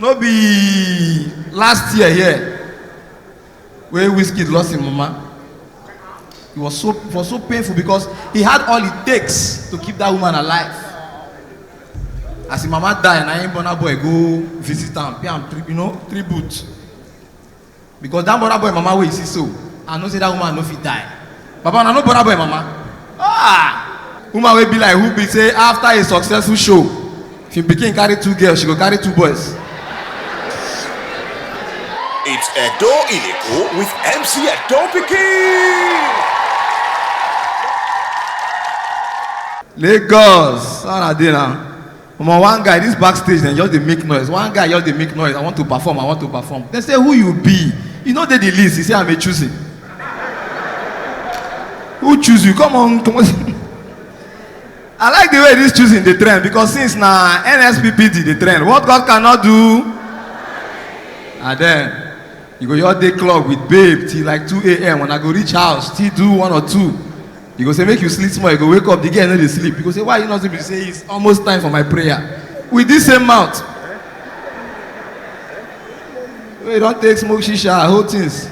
no be last year here wey wizkid lost him mama it was so it was so painful because he had all it takes to keep that woman alive as him mama die na him burna boy go visit am pay am tri you know tribute because that burna boy mama wey you see so i know say that woman no fit die baba una no burna boy mama ah woman wey be like who be say after a successful show if im pikin carry two girls she go carry two boys. It's Edo Ileko with MC Edo Pikin. lagos how una dey na omo one guy this backstage dem just dey make noise one guy just dey make noise i want to perform i want to perform dem say who you be you no dey the list he say i'm a choosing who choose you come on comot i like the way this choosing dey trend because since na nspd dey trend what god cannot do and then you go just dey club with babe till like 2am when i go reach house still do one or two You go say, make you sleep small. You go wake up, the girl no dey sleep. You go say, why you not sleep? You say, it's almost time for my prayer. With this same mouth. Wey you don take smoke shisha, whole things.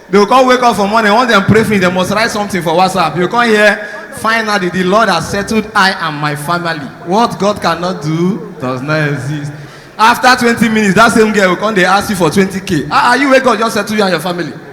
They go come wake up for morning, once dem pray finish, dem must write something for WhatsApp. You come hear, finally the Lord has settled I and my family. What God cannot do does not exist. After twenty minutes, that same girl go come dey ask you for twenty k. Ah, ah, you wey God just settle you and your family.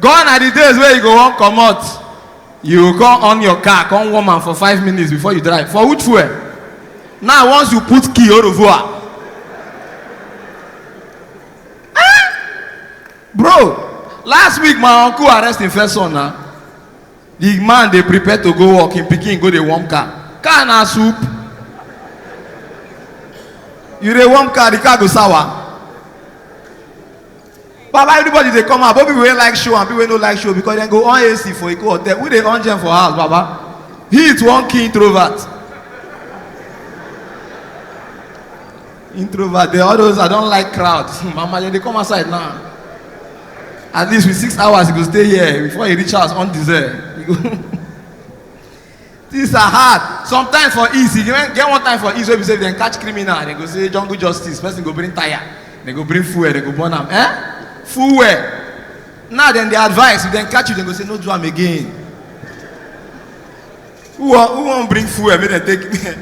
gone are the days wey you go wan comot you go come on your car come warm am for five minutes before you drive for which fuel now once you put key orovoa bro last week my uncle arrest him first son na the man dey prepare to go work him pikin go dey warm car car na soup you dey warm car the car go sour baba everybody dey come out both people wey like show and people wey no like show because dem go on ac for eko hotel we dey on gen for house baba heat wan kill introvert introvert dey all those i don like crowd hmm, mama dem dey come outside now at least with six hours you go stay here before you reach house undeserved you go things are hard sometimes for east e get get one time for east wey be say if dem catch criminal dem go say jungle justice person go bring tire dem go bring fuel dem go burn am eh fuel now dem dey advise if dem catch you dem go say no do am again who wan who wan bring fuel make dem take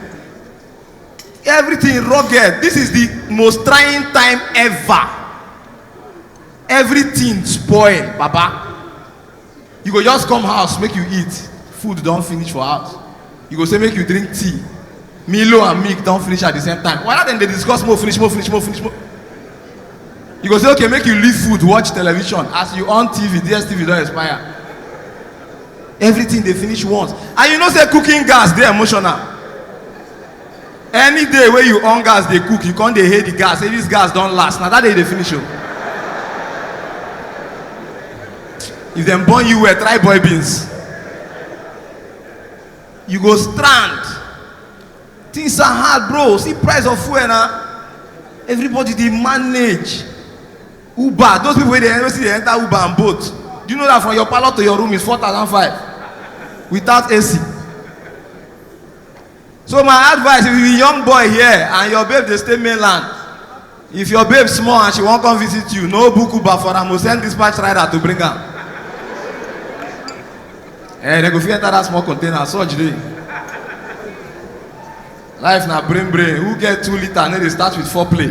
everything rugged this is the most trying time ever everything spoil baba You go just come house make you eat, food don finish for house. You go say make you drink tea, Milo and milk don finish at the same time. Why dem dey discuss more finish, more finish, more finish, more. You go say okay make you leave food watch television as you on TV, DSTV don expire. Everything dey finish once and you know say cooking gas dey emotional. any day wey you on gas dey cook you come dey hail the gas say this gas don last na that day you dey finish o if dem born you well try boil beans you go strand things are hard bro see price of fuel na everybody dey manage uber those people wey dey wey still dey enter uber and boat do you know that from your parlour to your room is four thousand five without ac so my advice if you be young boy here and your babe dey stay mainland if your babe small and she wan come visit you no book uber for am o send dispatch rider to bring am eh dem go fit enter that small container surge dey life na brain brain who get two litre no dey start with four play.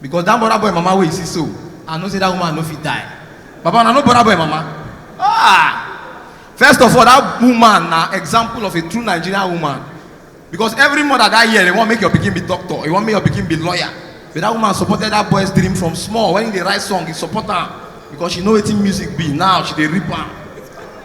because that burna boy mama wey you see so i know say that woman no fit die baba na no burna boy mama ah first of all that woman na example of a true nigerian woman because every mother that year dey wan make your pikin be doctor you wan make your pikin be lawyer but that woman supported that boy's dream from small when he dey write song he support am because she know wetin music be now she dey rip am